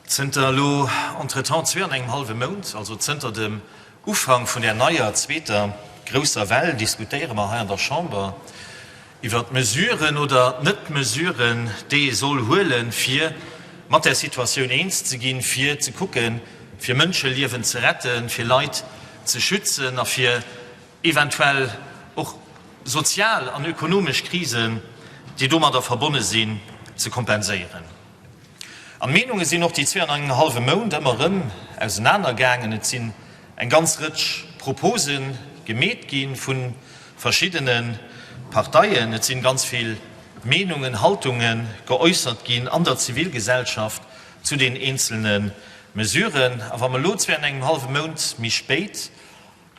Zënter elo entretemps zwee an engem hallwe Mount, also zënter dem Ufank vun där neier zweeter grousser Well, diskutéiere mer hei an der Chamber iwwert d'Mesuren oder d'Net-Mesuren, déi ee soll huele fir mat där Situatioun eens ze ginn, fir ze kucken, fir Mënscheliewen ze retten, fir Leit ze schützen a fir eventuell och sozial an ökonomesch Krisen, déi domadder verbonne sinn, ze kompenséieren. An d'Meenunge sinn och déi zwee an engem hallwe Mount ëmmer erëm ausenaner gaangen. Et sinn eng ganz Rëtsch Propose gemeet gi vu verschiddene Parteien. Et si ganz vill Meenungen, Haltunge geäussert ginn an der Zivilgesellschaft zu den eenzelne Mesuren. A wa mer elo zwee an engem hallwe Mount méi spéit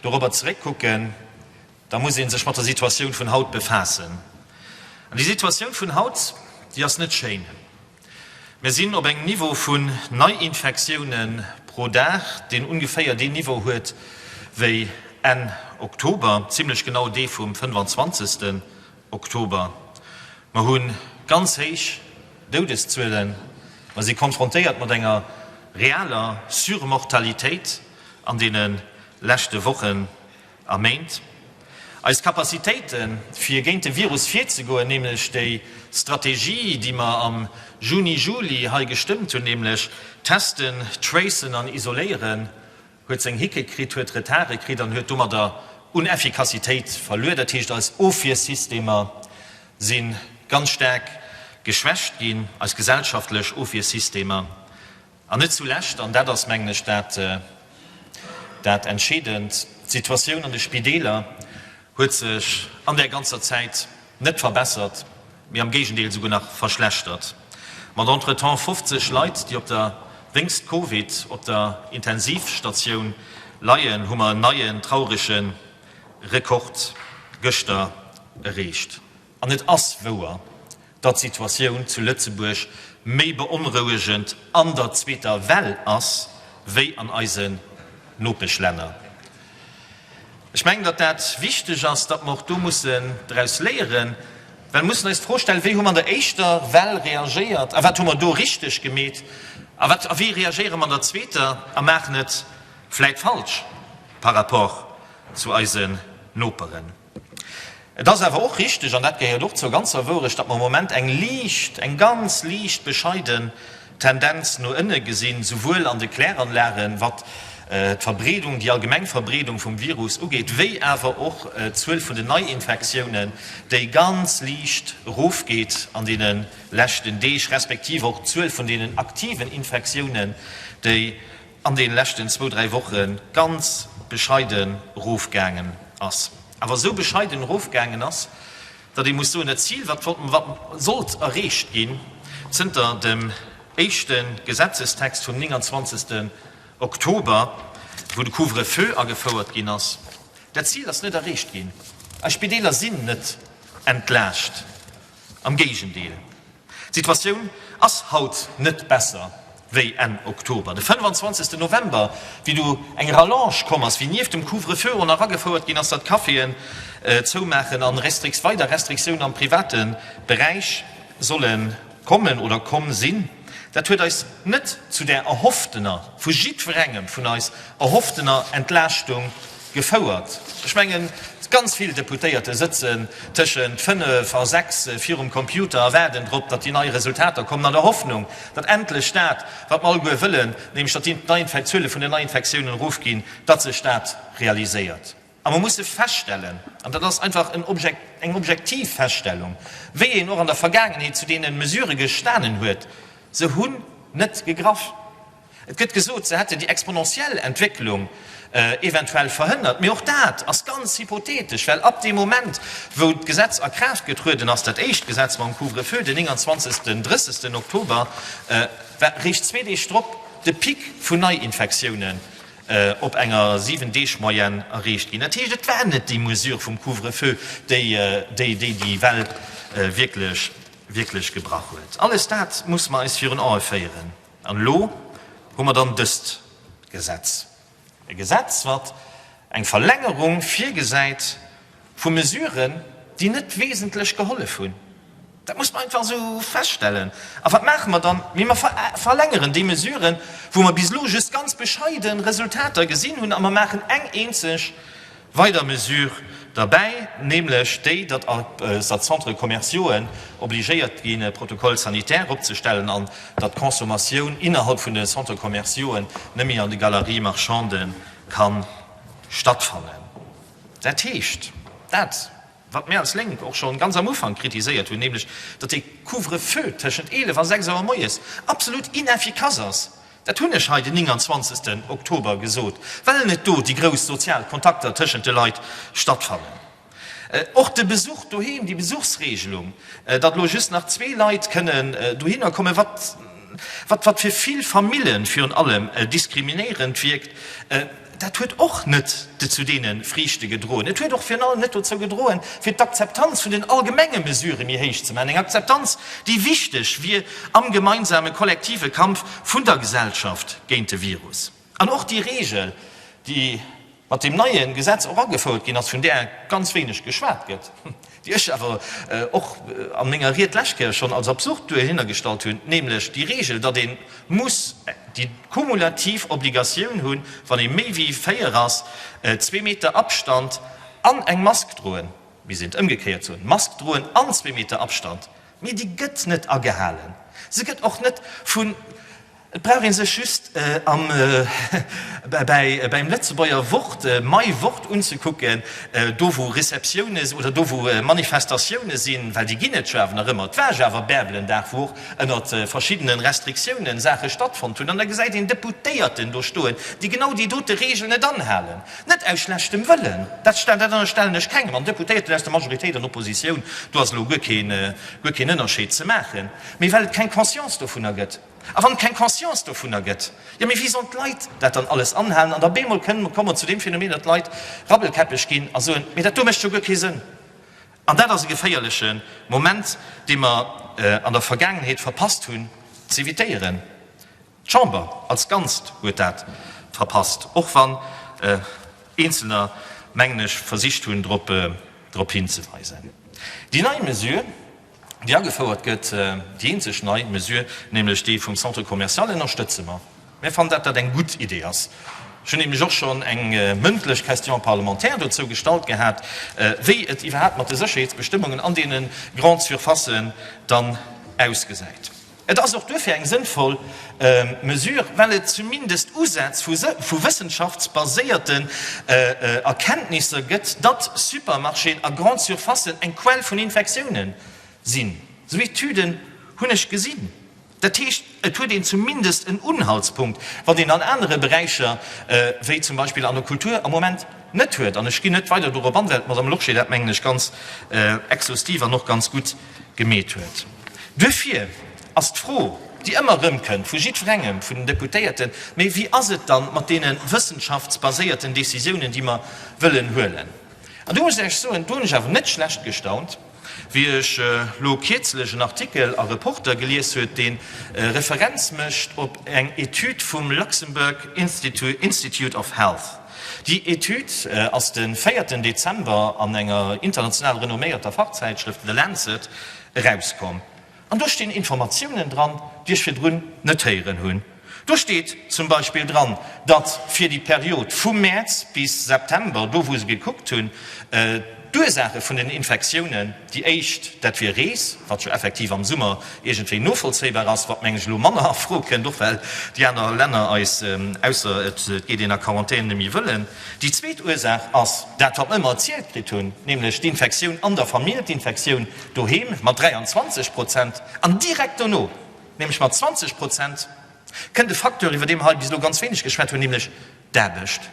dorobber zeréckkucken, da muss ee sech mat der Situatioun vun haut befaassen. An déi Situatioun vun haut, déi ass net schéin. Mir sinn op engem Niveau vun Neiinfektioune pro Dag, deen ungeféier deen Niveau huet wéi Enn Oktober, zimlech genau dee vum 25. Oktober. Mer hu ganz héich Doudeszuelen, mer si konfrontéiert mat enger realer Surmortalitéit an deene leschte Wochen A Méint. Eis Capacitéiten, fir géint de Virus virzegoen, nämlech déi Strategie, déi mer am Juni, Juli hei gestëmmt hunn, nämlech testen, tracen an isoléieren, huet seng Hicke kritt, huet Retarde kritt an huet domadder un Effikassitéit verluer. Dat heescht, eis Ofwiersystemer si ganz staark geschwächt ginn, eis gesellschaftlech Ofwiersystemer. An net zulescht, an dat ass, mengen ech, dat Entscheedend, D'Situatioun an de Spideeler huet sech an där ganzer Zäit net verbessert, mee am Géigendeel souguer nach verschlechtert. Mat entretemps 50 Leit, déi op der, wéinst Covid, op der Intensivstatioun leien, hu mer en neien traurege Rekord gëschter ereecht. An et ass wouer, datt d'Situatioun zu Lëtzebuerg méi beonrouegend an der zweeter Well ass wéi an eisen Nopeschlänner. Ech mengen, datt dat wichteg ass, datt mer och do mussen draus léieren, well mussen eis d'Fro stellen, wéi hu mer an der éischter Well reagéiert a wat hu mer do richteg gemeet a wat a wéi reagéiere mer an der zweeter a maachen et vläit falsch par rapport zu eisen Noperen. Et ass awer och richteg, an dat gehéiert och zur ganzer Wourecht, datt mer am Moment eng liicht, eng ganz liicht bescheiden Tendenz no ënne gesinn, esouwuel an de Kläranlagen, wat d'Verbreedung, déi allgemeng Verbreedung vum Virus ugeet, wéi awer och d'Zuel vun den Neiinfektiounen, déi ganz liicht erofgeet an deene leschten Deeg, respektiv och d'Zuel vun deenen aktiven Infektiounen, déi, an den leschten zwou, dräi Wochen ganz bescheiden erofgaangen ass, awer esou bescheiden erofgaangen ass, datt ee muss soen, dat Zil wat sollt erreecht ginn, zënter dem éischte Gesetzestext vum 29. Oktober, wou de Couvre-feu agefouert ginn ass, dat Zil ass net erreecht ginn. Eis Spideeler sinn net entlaascht Am Géigendeel, d'Situatioun ass haut net besser wéi Enn Oktober, de 25 November, wéi do eng Rallonge komm ass, wéi nieft dem Couvre-feu och nach agefouert ginn ass, datt d'Caféen zoumaachen a weider Restriktioune am private Beräich solle kommen oder komm sinn. Dat huet eis net zu där erhofftener, vu jiddwerengem vun eis erhofftener Entlaaschtung gefouert. Ech mengen, ganz vill Deputéierte sëtzen tëschent fënnef a sechs virum Computer a waarden drop, datt déi nei Resultater kommen, an der Hoffnung, datt endlech dat, wat mer alleguer wëllen, nämlech datt d'Zuele vun den Neiinfektiounen erofginn, datt sech dat realiséiert. A mer musse feststellen, an dat ass einfach eng objektiv Feststellung, wéi een och an der Vergaangenheet zu deene Mesurë gestanen huet, se hunn net gegraff. Et gëtt gesot, se hätte déi exponentiell Entwécklung eventuell verhënnert, mee och dat ass ganz hypothetesch, well ab deem Moment, wou d'Gesetz a Kraaft getrueden ass, dat éischt Gesetz mam Couvre-feu den 29, 30 Oktober, war réischt zwee Deeg drop de Pic vun Neiinfektiounen op enger 7 Deeg Moyenne erreecht ginn. Dat heescht, et war net déi Mesure vum Couvre-feu, déi déi Well wierklech gebrach huet. Alles dat musse mer eis virun Ae féieren. An elo hu mer dann dëst Gesetz, e Gesetz, wat eng Verlängerung virgesäit, Vu Mesuren, déi net wesentlech gehollef hunn. Dat muss mer einfach esou feststellen. A wat maache mer dann? Mee mer verlängeren déi Mesuren, wou mer bis elo just ganz bescheide Resultater gesinn hunn, a mer maachen eng eenzeg weider Mesure derbäi, nämlech déi, datt all Centres commerciaux obligéiert gi Protocoles sanitaires opzestellen an datt d'Consommatioun innerhalb vun de Centres commerciaux net méi an de Galeries marchandes ka stattfannen. Dat heescht, dat, wat mir als Lénk och scho ganz am Ufank kritiséiert hunn, nämlech datt dee Couvre-feu tëschent 11 a 6 Auer moies absolut ineffikass ass, dat hunn ech hei den 29. Oktober gesot, well net do déi grouss sozial Kontakter tëschent de Leit stattfannen. Och de Besuch doheem, déi Besuchsregelung, datt elo just nach zwee Leit kënnen dohinner kommen, wat fir vill Famille virun allem diskriminéierend wierkt, Dat huet och net zu deene Friichte gedroen. Et huet och virun allem net dozou gedroen, fir d'Akzeptanz vun den allgemenge Mesurë méi héich ze maachen, eng Akzeptanz, déi wichteg wier am gemeinsame kollektive Kampf vun der Gesellschaft géint de Virus. An och déi Reegel, déi mat deem neie Gesetz och agefouert ginn ass, vun där ganz wéineg geschwat gëtt, déi ech awer och a menger Ried d'lescht Kéier schonn als absurd duerhinnergestallt hunn, nämlech déi Regel, datt ee muss déi kumulativ Obligatioun hunn, wann ee méi wéi véier ass, zwee Meter Abstand an eng Mask droen, mir sinn d'ëmgekéiert Zon, Mask droen an zwee Meter Abstand, mee déi gëtt net agehalen, se gëtt och net vun. Et brauch ee sech just am beim Lëtzebuerger Wort mei Wort unzekucken, do wou Receptioune oder do wou Manifestatioune sinn, well déi ginn et jo awer nach ëmmer, et war jo awer Bärbelendag, wou och ënner verschiddenen Restriktiounen Saache stattfonnt hunn, an da gesäit een Deputéierten do stoen, déi genau déi dote Regel net anhalen, net aus schlechtem Wëllen, dat ënnerstellen ech kengem, an Deputéierten aus der Majoritéit an Oppositioun, do ass elo guer keen Ënnerscheed ze maachen, mee well et keng Conscience dovunner gëtt. A wann et keng Conscience dovunner gëtt, jo mee wéi sollen d'Leit dat dann alles anhalen? An da beemol kënnen mer kommen zu deem Phänomen, datt d'Leit rabbelkäppeg ginn a soen, mee dat do mécht jo guer kee Sënn. An dat ass e geféierleche Moment, dee mer an der Vergaangenheet verpasst hunn z'évitéieren. D'Chamber als Ganzt huet dat verpasst, och wann Eenzelner, mengen ech, versicht hunn drop hinzeweisen. Déi nei Mesure, déi agefouert gëtt. Déi eenzeg nei Mesure, nämlech déi vum Centre commercial, ënnerstëtze mer. Mir fannen, datt dat eng gutt Idee ass. Ech hunn nämlech och schonn eng mëndlech Question parlementaire dozou gestallt gehat, wéi et iwwerhaapt mat de Sécherheetsbestëmmungen an deene Grandes surfaces dann ausgesäit. Et ass och duerfir eng sënnvoll Mesure, well et zumindest Usätz vu wëssenschaftsbaséierte Erkenntnisser gëtt, datt Supermarchéen a Grandes surfacen eng Quell vun Infektiounen sinn. Esou Etüden hunn ech gesinn. Dat heescht, et huet een zumindest en Unhaltspunkt, wat een an anere Beräicher, wéi zum Beispill an der Kultur, am Moment net huet. An ech ginn net weider dorop an, well d'Madame Lorsché dat, mengen ech, ganz exhaustiv an och ganz gutt gemeet huet. Duerfir ass d'Fro, déi ëmmer erëmkënnt vu jiddwerengem vun den Deputéierten, Mee wéi ass et dann mat deene wëssenschaftsbaséierten Décisiounen, déi mer wëllen huelen? An do muss ech Iech soen, do hunn ech awer net schlecht gestaunt, wéi ech elo kierzlech en Artikel a Reporter gelies huet, dee Referenz mécht op eng Etüd vum Luxembourg Institute of Health, Déi Etüd ass de véierten Dezember an enger international renomméierter Fachzäitschrëft The Lancet erauskomm. An do stinn Informatiounen dran, déi ech virdrun net héieren hunn. Do steet zum Beispill dran, datt fir déi Period vu Mäerz bis September, do wou se gekuckt hunn, D'Ursaache vun den Infektiounen, déi éischt, dat wier Rees, wat jo effektiv am Summer iergendwéi novollzéibar ass, wat meng ech elo manner a Fro kënnt, och well déi aner Länner eis, ausser et geet een a Quarantän, net méi wëllen. Déi zweet Ursaach ass dat, wat mer ëmmer erzielt kritt hunn, nämlech d'Infektioun an der Famill, d'Infektioun doheem, mat 23 Prozent, an direkt dono, nämlech mat 20 Prozent, kënnt e Facteur, iwwer dee mer hei bis elo ganz wéineg geschwat hunn, nämlech d'Aarbecht.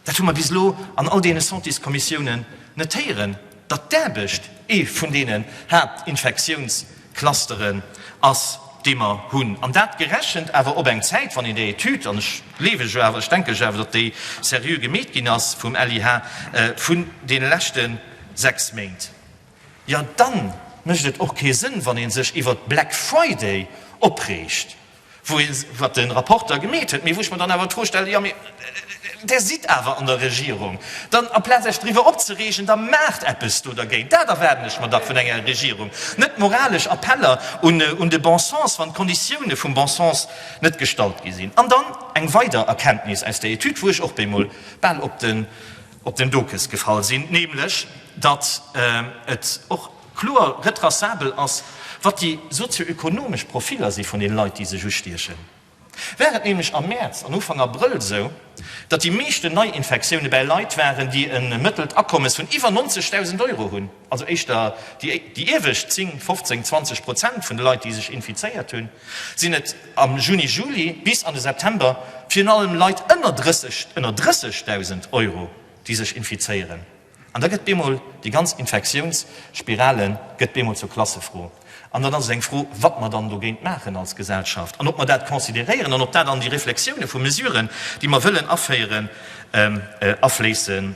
Dat hu mer bis elo an all deene Santéskommissiounen net héieren, datt d'Aarbecht ee vun deenen Haaptinfektiounsclusteren ass, dee mer hunn. An dat gerechent awer op eng Zäit, wann een där Etüd, an ech gleewen jo awer, ech denken jo awer, datt déi seriö gemeet ginn ass vum LIH, vun deene leschte sechs Méint. Jo, da mécht et och kee Sënn, wann ee sech iwwert Black Friday opreegt, Wou ee seet, wat de Rapporteur gemeet huet, mee wou ech mer dann awer d'Fro stellen, jo, mee Där sidd awer an der Regierung, dann aplaz Iech driwwer opzereegen, da maacht eppes do dergéint. Dat erwaarden ech mer dach vun enger Regierung, net moralesch Appeller un de bon sens, wann d'Konditioune vum bon sens net gestallt gi sinn. An dann eng weider Erkenntnis aus der Etüd, wou ech och bemol bal op den Dokes gefall sinn, nämlech datt et och, Kloer retraçabel ass, wat déi sozio-ökonomesch Profiller si vun den Leit, déi sech ustiechen. War et nämlech am Mäerz an Ufank Abrëll esou, datt déi meeschten Neiinfektioune bäi Leit waren, déi e mëttelt Akommes vun iwwer 90.000 Euro hunn, also éischter déi iewescht 10, 15, 20 Prozent vun de Leit, déi sech infizéiert hunn, sinn et am Juni, Juli bis an de September virun allem Leit ënner 30, ënner 30.000 Euro, déi sech infizéieren. An da gëtt bemol déi ganz Infektiounsspirale gëtt bemol zur Klassefro. An dann ass et eng Fro, wat mer dann dogéint maachen als Gesellschaft an ob mer dat consideréieren an ob dat an déi Reflexioune vu Mesuren, déi mer wëllen aféieren,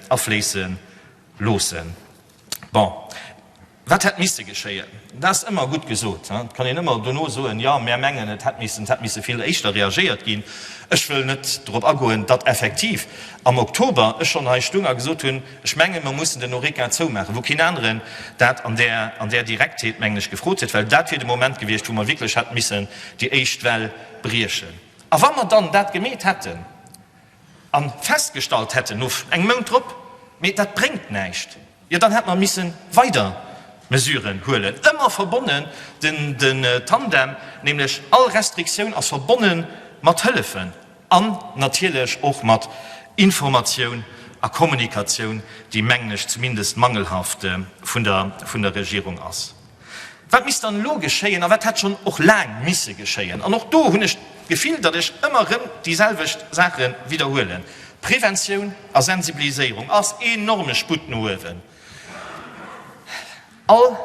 afléisse loossen. Bon. Wat hätt misse geschéien? Dat ass ëmmer gutt gesot. Et kann een ëmmer dono soen, jo, mär mengen, et hätt missen, et hätt misse vill éischter reagéiert ginn. Ech wëll net dorop agoen, datt effektiv am Oktober ech schonn hei stung a gesot hunn, ech menge mer mussen den Horeca zoumaachen, wou keen aneren dat an där, an där Direktheet, mengen ech, gefrot huet, well dat wier de Moment gewiescht, wou mer wierklech hätte missen déi éischt Well briechen. A wa mer dann dat gemeet hätten, an festgestallt hätten no engem Mount drop, mee dat bréngt näischt, jo dann hätt mer misse weider Mesuren huelen, ëmmer verbonnen den Tandem, nämlech all Restriktioun ass verbonne mat Hëllefen an natierlech och mat Informatioun a Kommunikatioun, déi, mengen ech zumindest, mangelhaft vun der Regierung ass. Wat misst dann elo geschéien a wat hätt schonn och laang misse geschéien? An och do hunn ech d'Gefill, datt ech ëmmer erëm déi selwecht Saache widderhuelen, Preventioun a Sensibiliséierung ass enorme Sputt no uewen. All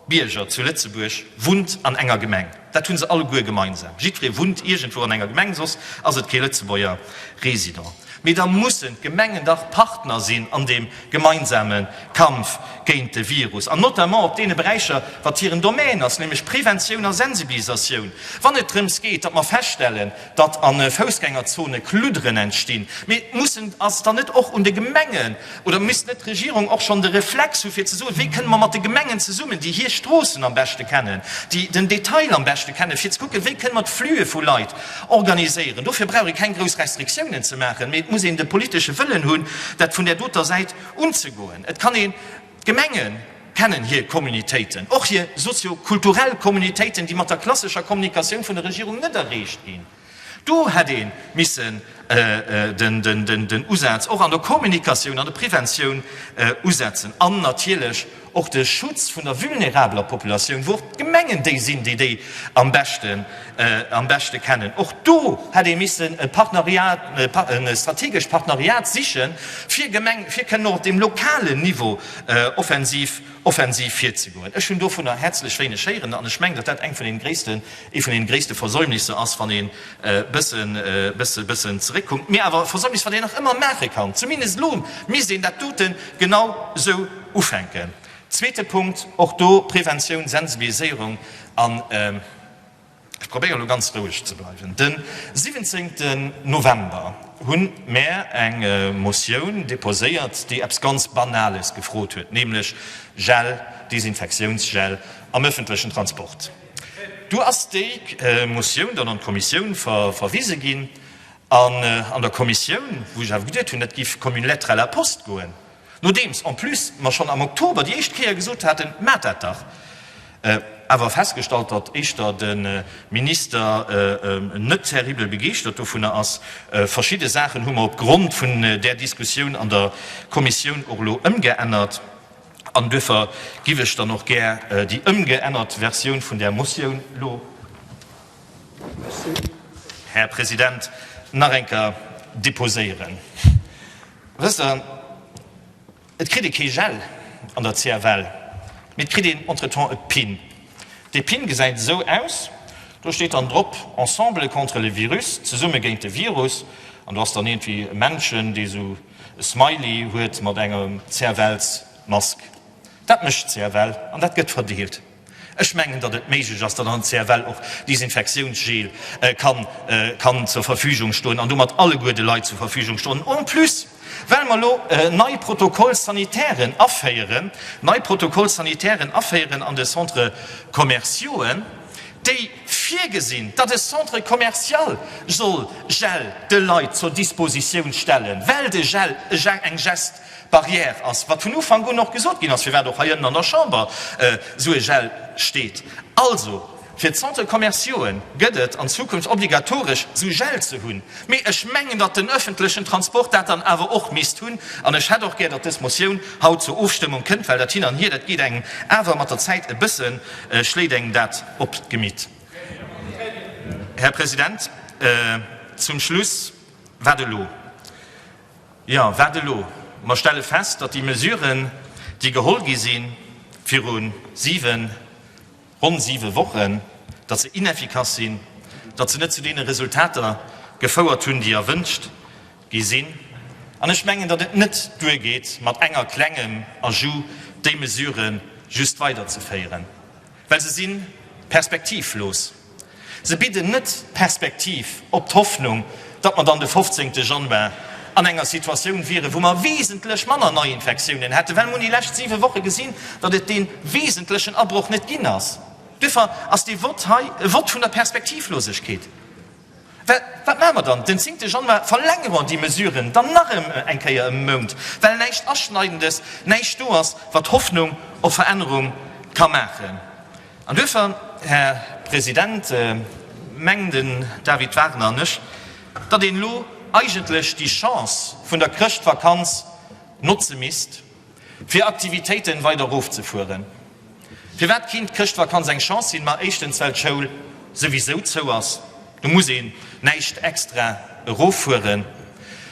Bierger zu Lëtzebuerg wunnt an enger Gemeng. Dat hunn se alleguer gemeinsam, jiddweree wunnt iergendwou an enger Gemeng, soss ass et kee Lëtzebuerger Resident. Mee da mussen d'Gemengen dach Partner sinn an deem gemeinsame Kampf géint de Virus an notamment op deene Beräicher, wat hiren Domän ass, nämlech Preventioun a Sensibilisatioun, wann et drëms geet, datt mer feststellen, datt a Foussgängerzone Kludderen entstinn, mee mussen ass dann net och un de Gemengen oder misst net d'Regierung och schonn de Reflex hu fir ze soen, wéi kënne mer mat de Gemengen zesummen, déi hir Stroossen am beschte kennen, déi den Detail am beschte kennen, fir ze kucken, wéi kënne mer d'Flüe vu Leit organiséieren? Dofir brauch ee keng grouss Restriktiounen ze maachen, mee et muss een de politesche Wëllen hunn, dat vun där doter Säit unzegoen. Et kann een. D'Gemenge kennen hir Communautéiten, och hir sozio-kulturell Communautéiten, déi mat der klassescher Kommunikatioun vun der Regierung net erreecht ginn. Do hätt ee missen den Usaz och an der Kommunikatioun, an der Preventioun usetzen an natierlech och de Schutz vun der vulnerabeler Populatioun, wou och d'Gemengen déi sinn, déi déi am beschten am beschte kennen. Och do hätt ee missen e Partneriat, e strategescht Partneriat sichen, fir Gemeng, fir kënnen och op deem lokalen Niveau offensiv, offensiv virzegoen. Ech hunn dovunner häerzlech wéineg héieren an ech mengen, datt dat eng vun den gréissten, ee vun den gréisste Versäumnisser ass, wann een bëssen, bësse, bëssen zeréckkuckt. Mee awer e Versäumnis, wat een nach ëmmer maache kann. Zumindest elo misst een dat dote genau esou ufänken. Zweete Punkt, och do Preventioun, Sensibiliséierung an, Ech probéieren elo ganz roueg ze bleiwen. Den 17 November hunn mär eng Motioun déposéiert, déi eppes ganz Banales gefrot huet, nämlech Gel, Desinfektiounsgel am öffentlechen Transport. Du ass déi Motioun dann an d'Kommissioun verwise ginn an an der Kommissioun, wou ech awer geduet hunn, dat géif comme une lettre à la poste goen, Nodeems en plus mer schonn am Oktober déi éischt Kéier gesot haten, Maacht dat dach! awer festgestallt, datt éischter de Minister net terribel begeeschtert dovunner ass. Verschidde Saachen hu mer op Grond vun där Diskussioun an der Kommissioun och elo ëmgeännert an duerfir giff ech dann och gär déi ëmgeännert Versioun vun där Motioun elo, Här President, nach eng Kéier deposéieren. Wësst Der, et kritt ee kee Gel an der CFL, mee et kritt een entretemps e Pin. Dee Pin gesäit esou aus, do steet dann drop, Ensemble contre le virus, zesumme géint de Virus, an do ass dann iergendwéi e Männchen, dee esou e Smiley huet mat enger CFL-Mask. Dat mécht d'CFL an dat gëtt verdeelt. Ech mengen, datt et méiglech ass, datt an der CFL och Desinfektiounsgel kann zur Verfügung stoen an domat alleguer de Leit zur Verfügung stoen. En plus, well mer elo nei Protocoles sanitaires aféieren, nei Protocoles sanitaires aféieren an de Centres commerciauxen, déi virgesinn, datt e Centre commercial soll Gel de Leit zur Dispositioun stellen, well de Gel eng Gest, Barrière ass, wat vun Ufank un och gesot ginn ass, firwat och heiënnen an der Chamber esou e Gel steet. Also, fir d'Centres commerciauen gëtt et an Zukunft obligatoresch, esou Gel ze hunn. Mee ech mengen, datt den öffentlechen Transport dat dann awer och misst hunn. An ech hätt och gär, datt dës Motioun haut zur Ofstëmmung kënnt, well dat Hin an Hier, dat geet engem awer mat der Zäit e bësse, schléit engem dat op d'Gemitt. Här President, zum Schluss, wat elo? Jo, wat elo? Mer stelle fest, datt déi Mesuren, déi geholl gi sinn viru siwen, ronn siwe Wochen, datt se ineffikass sinn, datt se net zu deene Resultater gefouert hunn, déi erwünscht gi sinn. An ech mengen, datt et net duergeet, mat enger klengem Ajout déi Mesuren just weiderzeféieren. Well se sinn perspektivlos. Se bidden net d'Perspektiv op d'Hoffnung, datt mer dann de 15 Januar an enger Situatioun wieren, wou mer wesentlech manner Neiinfektiounen hätten, well mer hunn déi lescht siwe Woche gesinn, datt et dee wesentlechen Abroch net ginn ass. Duerfir ass dee Vott hei e Vott vun der Perspektivlosegkeet. Wat maache mer dann? Den zéngte Januar verlängere mer déi Mesuren dann nach eng Kéier ëm e Mount, well näischt Aschneidendes, näischt do ass, wat Hoffnung op Verännerung ka maachen. An duerfir, Här President, mengen den David Wagner an ech, datt een elo eigentlech déi Chance vun der Chrëschtvakanz notze misst, Fir Aktivitéiten weider erofzefueren. Firwat kéint d'Chrëschtvakanz eng Chance sinn? Ma éischtens well d'Schoul souwisou zou ass, do muss een näischt extra eroffueren.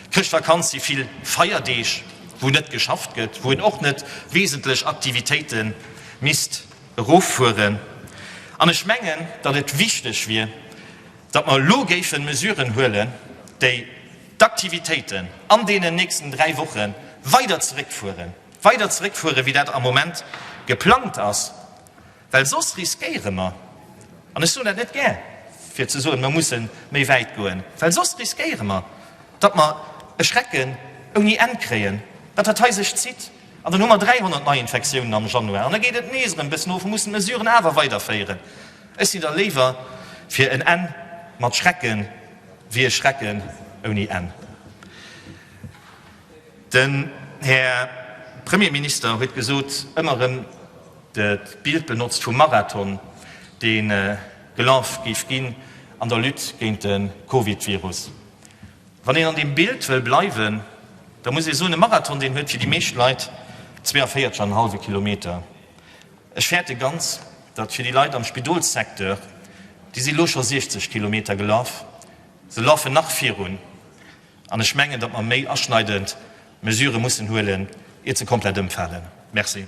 D'Chrëschtvakanz si vill Feierdeeg wou net geschafft gëtt, wou een och net wesentlech Aktivitéite misst eroffueren. An ech mengen, datt et wichteg wier, datt mer elo géife Mesuren huelen, déi. d'Aktivitéiten an deenen nächsten dräi Woche weider zeréckfueren, weider zeréckfueren, wéi dat am Moment geplangt ass, well soss riskéiere mer, an ech soen dat net gär, fir ze soen, mer musse méi wäit goen, well soss riskéiere mer, datt mer e Schrecken ouni Enn kréien, datt dat hei sech zitt, an dann hu mer 300 Neiinfektiounen am Januar an da geet et nees erëm e bëssen of, mer mussen d'Mesuren awer weiderféieren. Ech sinn da léiwer fir en Enn mat Schrecken. Wier e Schrecken ouni Enn. Den Här Premierminister huet gesot, ëmmer erëm dat Bild benotzt vum Marathon, dee gelaf géif ginn an der Lutte géint de Covid-Virus. Wann een an deem Bild wëll bleiwen, da muss ee soen, e Marathon, deen huet fir déi meescht Leit 42,5 Kilometer. Ech fäerte ganz, datt fir déi Leit am Spidolssecteur, déi si lo scho 60 Kilometer gelaf, se lafe nach virun, an ech mengen, datt mer méi aschneidend Mesurë mussen huelen, iert se komplett ëmfalen. Merci.